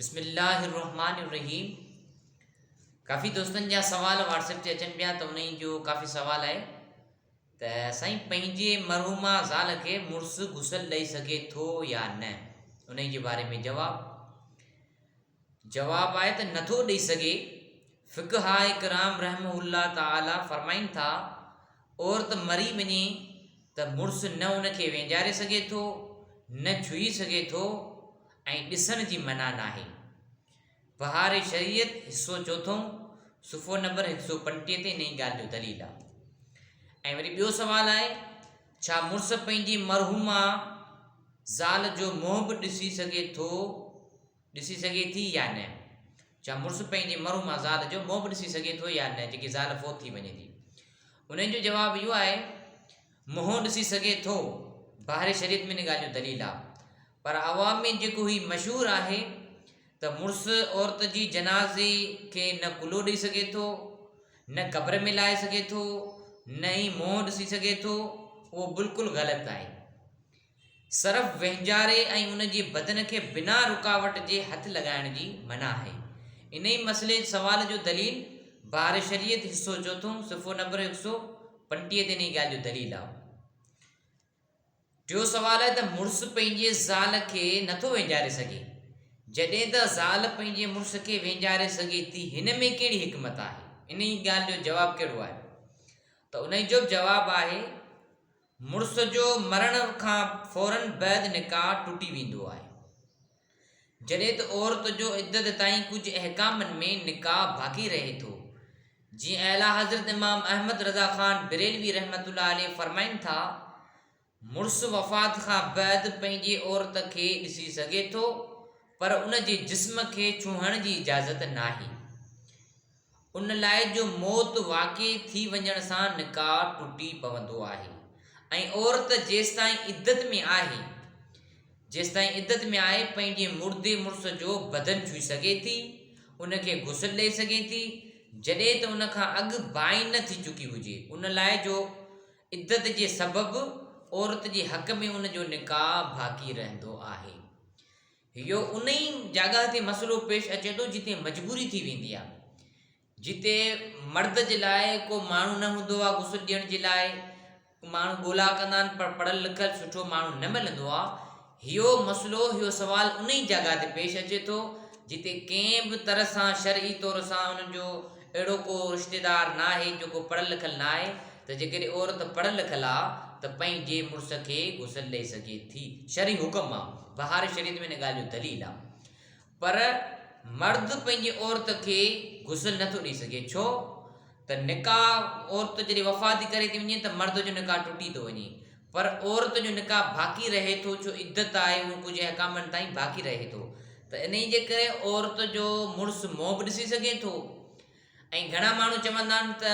بسم الله الرحمن الرحيم ڪافي دوستن جا سوال واٽس اپ تي اچن پيا ته انهي جو ڪافي سوال آهي ته سائين پنهنجي مرحوما زال کي مڙس غسل ڏئي سگهي ٿو يا نه انهي جي باري ۾ جواب جواب آهي ته نٿو ڏئي سگهي فقه آهي کرام رحم الله تعالي فرمائن ٿا عورت مري وڃي ته مڙس نه ان کي وينجاري سگهي ٿو نه ڇهي سگهي ٿو ۽ ڏسڻ جي منع ناهي. بهار شريعت حصو چوٿون صفحو نمبر هڪ سؤ پنٽيهه تي انهي ڳالهه جو دليل آهي. ۽ وري ٻيو سوال آهي ڇا مڙس پنهنجي مرحومه زال جو منهن به ڏسي سگهي ٿو ڏسي سگهي ٿي يا نه؟ ڇا مڙس پنهنجي مرحومه زال جو منهن به ڏسي سگهي ٿو يا نه جيڪي زال فوت ٿي وڃي ٿي؟ انهي جو جواب اهو آهي منهن ڏسي سگهي ٿو. بهار شريعت ۾ انهي ڳالهه جو دليل آهي. پر عوام ۾ جيڪو هي مشهور آهي ته مڙس عورت جي جنازي کي نه ڪلهو ڏئي سگهي ٿو، نه قبر ۾ لائي سگهي ٿو، نه ئي منهن ڏسي سگهي ٿو، اهو بلڪل غلط آهي. صرف وهنجاري ۽ ان جي بدن کي بنا رڪاوٽ جي هٿ لڳائڻ جي منع آهي. انهي مسئلي سوال جو دليل بحر شريعت حصو چوٿون صفحو نمبر هڪ سؤ پنٽيهه تي انهي ڳالهه جو دليل آهو. ٽيون سوال آهي ته مڙس پنهنجي زال کي نٿو وينجاري سگهي جڏهن ته زال پنهنجي مڙس کي وينجاري سگهي ٿي هن ۾ ڪهڙي حڪمت آهي انهي ڳالهه جو جواب ڪهڙو آهي ته انهي جو به جواب آهي مڙس جو مرڻ کان فورن بعد نڪاح ٽٽي ويندو آهي جڏهن ته عورت جو عدت تائين ڪجهه احڪامن ۾ نڪاح باقي رهي ٿو. جيئن اعليٰ حضرت امام احمد رضا خان بريلوي رحمة الله عليه فرمائن ٿا، مڙس وفات کان بعد پنهنجي عورت کي ڏسي سگهي ٿو، پر ان جي جسم کي ڇهڻ جي اجازت ناهي. ان لاء جو موت واقع ٿي وڃڻ سان نڪاح ٽٽي پوندو آهي ۽ عورت جيستائين عدت ۾ آهي جيستائين عدت ۾ آهي پنهنجي مردي مڙس جو بدن ڇهي سگهي ٿي ان کي غسل ڏئي سگهي ٿي جڏهن ته ان کان اڳ بائين نه ٿي چڪي هجي ان لاء جو عدت جي سبب عورت جي حق ۾ ان جو نڪاح باقي رهندو آهي اهو انهي جاڳاهه تي مسئلو پيش اچي ٿو جتي مجبوري ٿي ويندي آهي جتي مرد جي لاء ڪو ماڻهو نه هوندو آهي غسل ڏيڻ جي لاء ماڻهو ڳولا ڪندا آهن پر پڙهل لکل سٺو ماڻهو نه ملندو آهي اهو مسئلو اهو سوال انهي جاڳاهه تي پيش اچي ٿو جتي ڪنهن به طرح سان شرعي طور سان انهن جو اهڙو ڪو رشتيدار ناهي جيڪو پڙهيل لکيل نه آهي ته جيڪڏهن عورت پڙهيل لکيل آ ته پنهنجي مڙس کي غسل ڏئي سگهي ٿي شرعي حڪم آ بهار شريعت ۾ ان ڳالهه جو دليل آ پر مرد پنهنجي عورت کي غسل نه ٿو ڏئي سگهي ڇو ته نڪاح عورت جڏهن وفات ٿي ڪري ٿي وڃي ته مرد جو نڪاح ٽٽي ٿو وڃي پر عورت جو نڪاح باقي رهي ٿو جو عدت آهي اهو ڪجهه احڪامن تائين باقي رهي ٿو ته انهي جي ڪري عورت جو مڙس منهن به ڏسي سگهي ٿو ۽ گهڻا ماڻهو چوندا آهن ته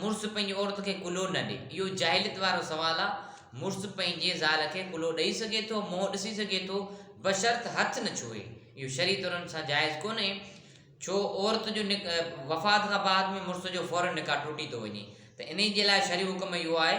مڙس پنهنجي عورت کي ڪلهو نه ڏي اهو جاهليت وارو سوال آهي مڙس پنهنجي زال کي ڪلهو ڏئي سگهي ٿو منهن ڏسي سگهي ٿو بشرط هٿ نه ڇهي اهو شرعي طور ان سان جائز ڪونهي ڇو عورت جو نڪ وفات کان بعد ۾ مڙس جو فورن نڪاح ٽٽي ٿو وڃي ته انهي جي لاء شرعي حڪم اهو آهي